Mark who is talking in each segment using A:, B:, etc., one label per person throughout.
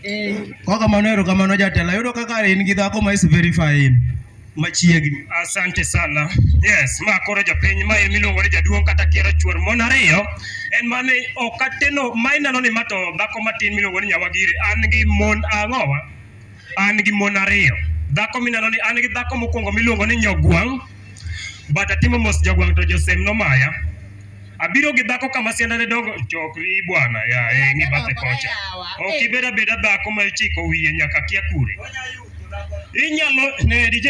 A: Eh. Kwa kama nero kama noja tela yudo kaka in gi dhako ma is verify in machiegni. Asante sana.
B: Yes, ma koro japiny ma miluongo ni jaduong' kata kiero chuor mon ariyo en mane ok ateno ma ineno ni mato dhako matin miluongo ni nyawagire an gi mon ang'owa an gi mon ariyo. Dhako mineno ni an gi dhako mokwongo miluongo ni Nyogwang', but atimo mos Jogwang' to Josem nomaya. Abiro gi dhako kama sianda ne dongo chokri bwana ya e ngi bathe kocha. Ok ibed abeda dhako ma ichiko wiye nyaka kia kure. Inyalo ne DJ.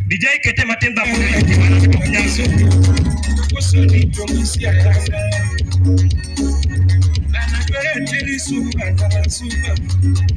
B: DJ kete matin dhako ne jimana timo nyasu. Kusudi tumisia kasa. Anagwere tiri suka kasa suka.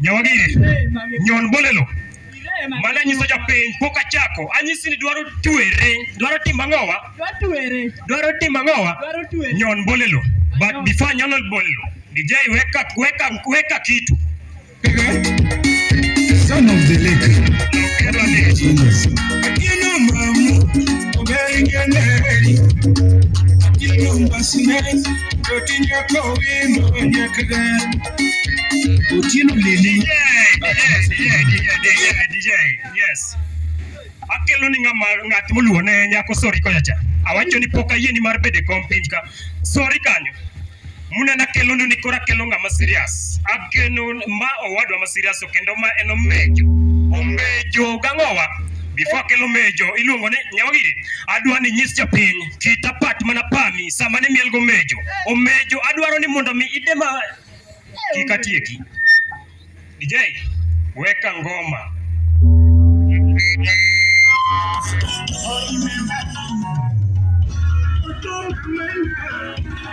B: Nyawagire, nyon bolelo. Mana nyiso japiny pok achako. Anyisi ni dwaro twere, dwaro timo ang'owa? Dwaro timo ang'owa? Nyon bolelo. But before nyon bolelo, DJ weka weka weka kitu.
C: Son of the lake. Ino mamu, obengeneri. Ino mbasine,
B: kotinya kowino nyakre. Otieno Lili. DJ, yes. Akelo ni ng'ama ng'at moluwo ne nyako sori kocha cha. Awacho ni pok ayie ni mar bede kom piny ka. Sori kanyo. Muna na kelo ni kora kelo ng'ama serious. Akeno ma owadwa ma serious kendo ma en omejo. Omejo gang'owa. Before akelo mejo iluongo ni nyawagiri. Adwa ni nyis japiny Kita pat mana pami sama ne miel gomejo. Omejo adwaro ni mondo mi ide ma kika tieki. DJ weka ngoma. Thank you.